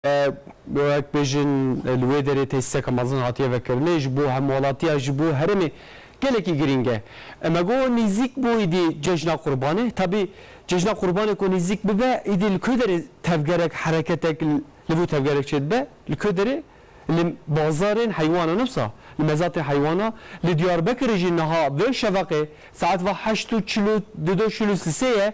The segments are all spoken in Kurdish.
wek bêjin li wê derê tesîseke mezin hatiye vekirinê ji bo hemwelatiya ji bo herêmê gelekî girîng e. Me got nîzîk bû îdî cejna qurbanê. Tabî cejna qurbanê ku nîzîk bibe îdî li ku derê tevgerek hereketek li vî tevgerek çêdibe li ku derê li bazarên heywan e ne wisa li mezatê heywan e. Li Diyarbekirê jî niha vê şevaqê saet va heşt û çil û du do çil û sisê ye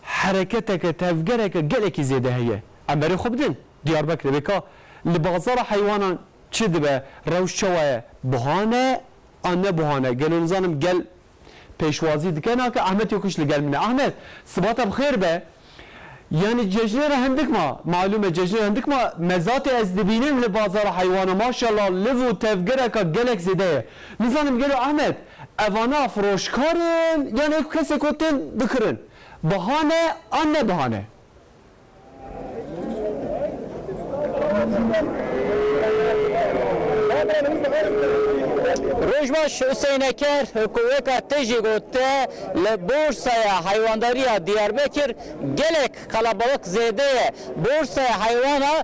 hereketeke tevgereke gelekî zêde heye. Em berê xwe bidin Diyarbekirê bê ka li bazara heywanan çi dibe, rewş çawa ye? Buha ne an ne buha ne? Gelo nizanim gel pêşwazî dike nake? Ahmet Yokuş li gel min e. Ahmet, sibata bi xêr be. Yanî cejnê re hindik ma, malûm e cejnê re hindik ma, mezatê ez dibînim li bazara heywanan maşallah liv û tevgereka gelek zêde ye. Nizanim gelo Ahmet, evana firoşkar in yanî eko kesê ku tên dikirin? Buha ne an ne buha ne? Rojbaş Huseyneker ku weka te jî got te li Borsaya Heywandarî ya Diyarbekir gelek qelebalix zêde ye. Borsaya Heywana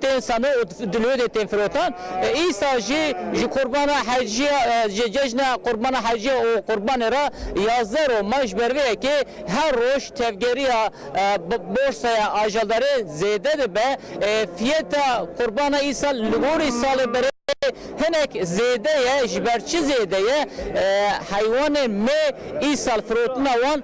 tên sanan û di lodê tên firotan. Îsa jî ji Qurbana Heciya ji cejna Qurbana Heciya û Qurbanê re yazdeh roj ma ji ber vê yekê her roj tevgeriya borsaya ajaldarê zêde dibe. Fiyeta Qurbana Îsa li gorî salê berê hinek zêde ye ji ber çi zêde ye heywanên me îsal firotina wan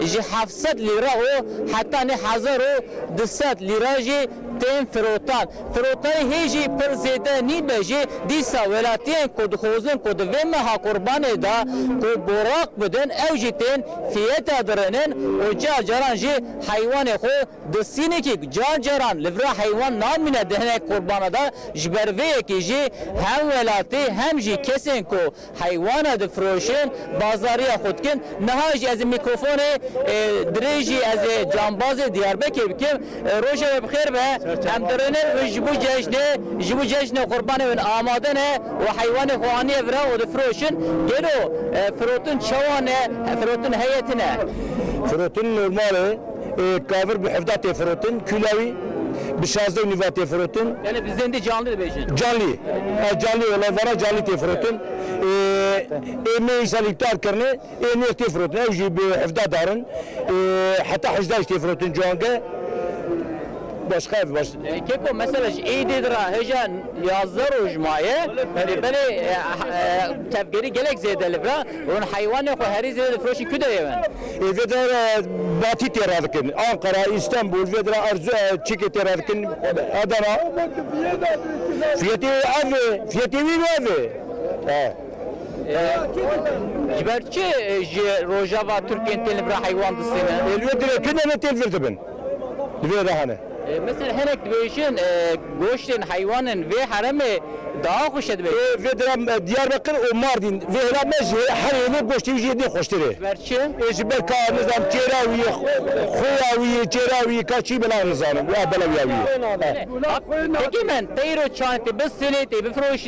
ji heft sed lîre û heta neh hezar û du sed lîre jî tên firotan. Firotayî hê jî pir zêde nîbe jî dîsa welatiyên ku dixwazin ku di vê meha Qurbanê de ku boraq bidin ew jî tên fiyeta dirinin û car caran jî heywanê xwe di sînikî car caran li vir heywan namîne di hinek Qurbana de ji ber vê yekê jî hem welatî hem jî kesên ku Heywana difiroşin, bazariya xwe dikin. Niha jî ez ê mîkrofonê dirêjî ez ê cambazê Diyarbekê bikim. Roja we bi xêr be. Em di Rênevê bin ji bo cejnê, ji bo cejnê qurbanê bin amade ne û heywanê xwe aniye vir e û difiroşin. Gelo firotin çawa ne? Firotin heye tune? Firotin normal e. Kavir bi hevda tê firotin, kûla wî bi şazdeh û nîva tê firotin. Gelê bi zêndê canlî dibêjin. Canlî, ev canlî ye, lê vera canlî tê firotin. Ê mê îsal îptal kirine, ê nêr tê firotin, ew jî bi hevda dar in. Heta hejda jî tê firotin ciwanke. Başqa ev baş. Keko mesela ji êdê di re hêja yazdeh roj maye, belê tevgerî gelek zêde li vir e. Hûn heywanê xwe herî zêde difiroşin ku deyê wen? Ê vêde re batî tê radikin. Anqara, Îstenbûl vêde re erzu e çîkê tê radikin. Adana fiyetê wî ev ê. Fiyetê wî û ev ê. Ji ber çi ji Rojava Tirkiyên tên li vir re heywan distînin? Ê li wê dirê kin em ê tên vir dibin. di vê re hene. Misal hinek dibêjin goştên heywan in vê heremê daha xweş e dibêjin. Ê vê dire Diyarbekir û Mardîn vê hêla me ji her hêlê goştê wî jî hêdî xweştir e. Ji ber çi? Ê ji ber ka nizam kêra wî ye, xuya wî ye, kêra wî ye, ka çi belav nizanim û ev belawiya wî ye. Hak xwe nade. Hekîmen teyro çand tê bisilê tê bifiroşî.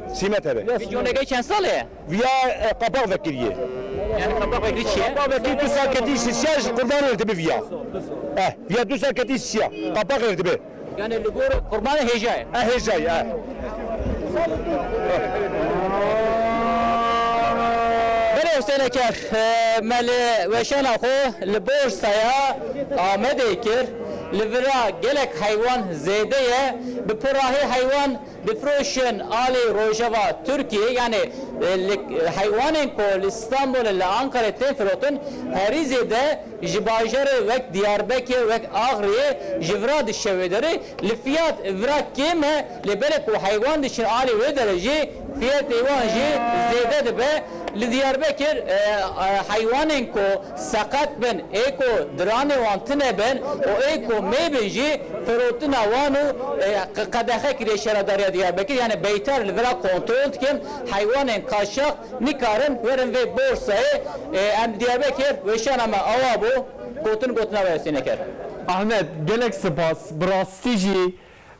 Sîme teve. Vîdyoneke çend sal e? Vîya qepax vekirîyê. Yanî qepax vekirî çi ye? Qepax vekirî du sal ketî sisiya ji qurban rêr dibi vîya. Eh vîya du sal ketî sisiya qepax rêr dibi. Yanî li gor qurban re hêja ye. Eh hêja ye eh. Belê Huseyne Kerx me li weşana xwe li Borsaya Amedê kir. Li vir a gelek heywan zêde ye. Bi pirahî heywan Difiroşin alî rojeva Tirkiyeyê yanî li heywanên ku li Stenbolê li Ankarayê tên firotin herî zêde ji bajarê wek Diyarbekê wek Axriyê ji vira dişe wê derê li fiyat vira kêm e lê belê ku heywan diçin alî wê derê jî fiyetê wan jî zêde dibe li Diyarbekir heywanên ku seqet bin ê ku diranê wan tune bin û ê ku mê bin jî firotina wan û qedexe kiriye Şaredariya Diyarbekir yanî beytar li vir a kontrol dikin heywanên kaçax nikarin werin vê borsayê em li Diyarbekir weşana me awa bû gotin gotina wê Husênê kir. Ahmet gelek sipas bi rastî jî.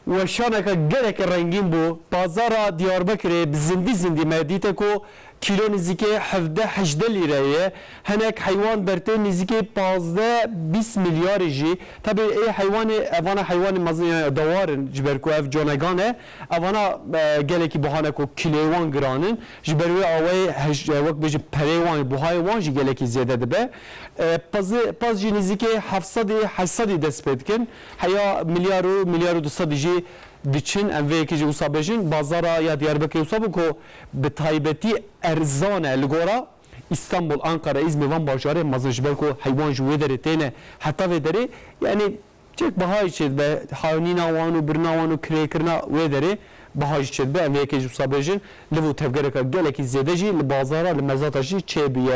Weşaneke gelekî rengîn bû. Pazara Diyarbekirê bi zindî zindî me dîte ku kîlo nizîkê hevdeh hejdeh lîreyê ye. Hinek heywan dertê nizîkê pazdeh bîst milyarê jî. Tevî ê heywanê evana heywanê mezin yan ya dawar in ji ber ku ev conegan ne. Evana gelekî buha ne ku kîloyê wan giran in. Ji ber wê awayê hej wek bêjin pereyê wan ê buhayê wan jî gelekî zêde dibe. Paz paz jî nizîkê heft sedî heşt sedî dest pê dikin. Heya milyar û milyar û du sedî jî diçin, em vê yekê jî wisa bêjin. Bazara ya Diyarbekirê wisa bû ku bi taybetî erzan e li gora Îstanbul, Anqara, Îzmir van bajarê mezin ji ber ku heywan ji wê derê têne heta vê derê yanî çêk bihayê çê dibe haynîna wan û birina wan û kirêkirina wê derê biha jî çê dibe. Em vê yekê jî wisa bêjin liv û tevgereke gelekî zêde jî li bazara li mezata jî çê bûye.